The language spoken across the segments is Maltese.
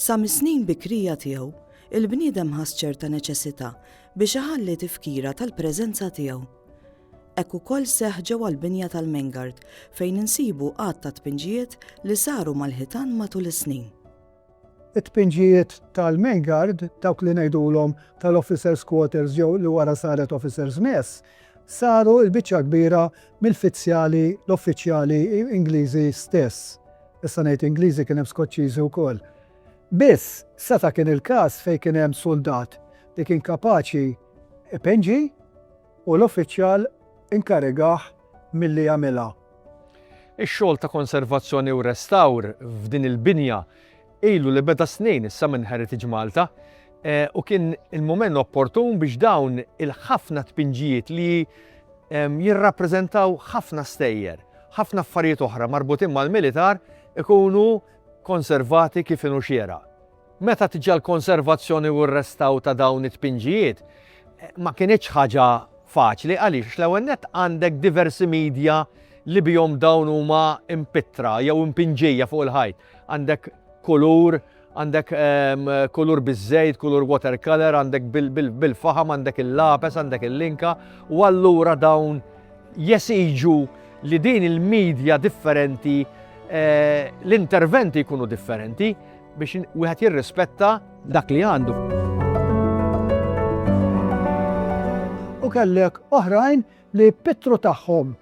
Sa mis-snin bikrija tiegħu, il-bniedem ħass ċerta neċessità biex iħalli tifkira tal-preżenza tiegħu. Hekk ukoll seħ ġewwa l-binja tal-Mengard fejn insibu għadd ta' tpinġijiet li saru mal-ħitan matul is-snin. It-tpinġijiet tal-main guard, dawk li ngħidulhom tal-officers quarters jew li wara saret officers mess, saru l-biċċa l-kbira mill-fizzjali, l-uffiċjali, Ingliżi stess. Issa ngħid Ingliżi kien hemm Skoċċiżi wkoll. Biss, seta' kien il-każ fejn kien hemm suldat li kien kapaċi ipenġi, u l-uffiċjal inkarigah milli jagħmilha. Ix-xogħol ta' konservazzjoni u restawr f'din il-binja ilu li beda snin issa minn Heritage Malta u kien il-mument opportun biex dawn il-ħafna tpinġijiet li jirrappreżentaw ħafna stejjer, ħafna affarijiet oħra marbutin mal-militar ikunu konservati kif inhu xieraq. Meta tiġi għall-konservazzjoni u r-restawr ta' dawn it-tpinġijiet, ma kinitx ħaġa faċli. Għaliex? Għax l-ewwel nett għandek diversi midja li bihom dawn huma mpittra jew impinġija fuq il-ħajt. Għandek kulur, għandek ehm, kulur biż-żejt, kulur watercolor, għandek bil-faħam, għandek il-lapes, għandek il-linka, u allura dawn jesiġu li din il-medja differenti eh, l-interventi jkunu differenti biex wieħed jirrispetta dak li għandu. U kellek oħrajn li pittru tagħhom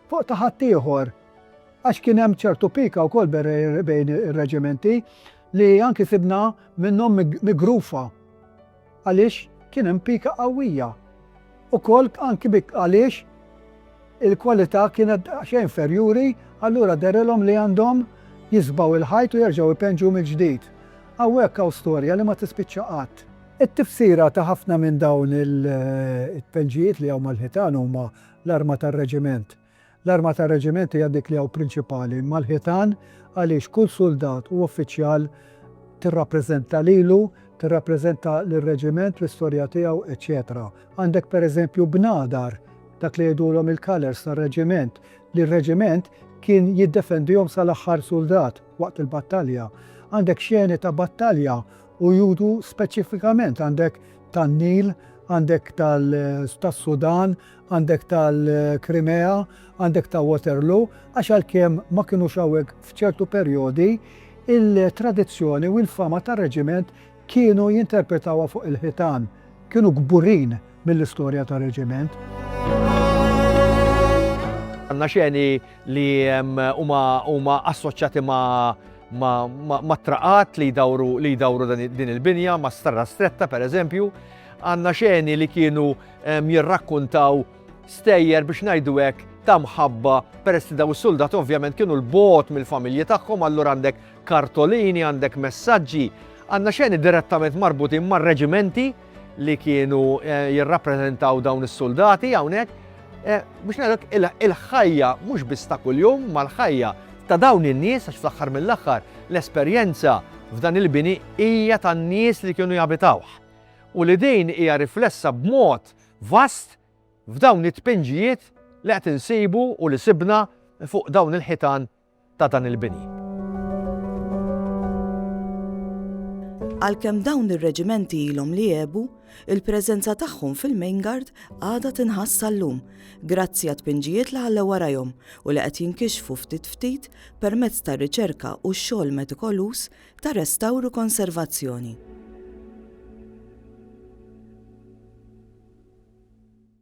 fuq ta' ħaddieħor għax kien hemm ċertu pika wkoll bejn ir-reġimenti li anki sibna minnhom migrufa Għaliex kien hemm pika qawwija. Ukoll anki bi għaliex il-kwalità kienet daqsxejn inferjuri, allura derilhom li għandhom jisbgħu l-ħajt u jerġgħu jpenġu mill-ġdid. Hawnhekk hawn storja li ma tispiċċa qatt. It-tifsira ta' ħafna minn dawn it-tpenġijiet li hawn mal-ħitan huma l-arma tar-reġiment. L-arma tar-reġiment hija dik li hawn prinċipali mal-ħitan għaliex kull suldat u uffiċjal tirrappreżenta lilu, tirrappreżenta lir-reġiment, l-istorja tiegħu, eċċetera. Għandek pereżempju bnadar, dak li jgħidulhom il-colours tar-reġiment, li r-reġiment kien jiddefendihom sal-aħħar suldat waqt il-battalja. Għandek xeni ta' battalja u juru speċifikament għandek tan-Nil, għandek tas-Sudan, għandek tal-Krimea, għandek ta' Waterloo, għax għalkemm ma kinux hawnhekk f'ċertu perjodi, il-tradizzjoni u l-fama tar-reġiment kienu jinterpretawha fuq il-ħitan. Kienu kburin mill-istorja tar-reġiment. Għandna xeni li huma assoċjati ma' traqat li jdawru din il-binja, ma' starra stretta pereżempju. Għandna xeni li kienu jirrakkuntaw stejjer biex ngħidu hekk ta' mħabba peress li daw is-suldat ovvjament kienu l-bot mill-familji tagħhom allura għandek kartolini, għandek messaġġi, għandna xeni direttament marbutin mar-reġimenti li kienu eh, jirrappreżentaw dawn is-suldati hawnhekk eh, biex ngħidlek il-ħajja mhux biss ta' kuljum mal-ħajja ta' dawn in-nies għax fl-aħħar mill-aħħar l-esperjenza f'dan il-bini hija tan-nies li kienu jabitawh. u li din hija riflessa b'mod vast f'dawn it-tpinġijiet li qed insibu u li sibna fuq dawn il-ħitan ta' dan il-bini. Għalkemm dawn ir-reġimenti ilhom li għebu, il-preżenza tagħhom fil-Maingard għadha tinħass sal-lum, grazzi għat-tpinġijiet li ħallew warajhom u li qed jinkixfu ftit ftit permezz tar-riċerka u x-xogħol metikoluż ta' restawr u konservazzjoni.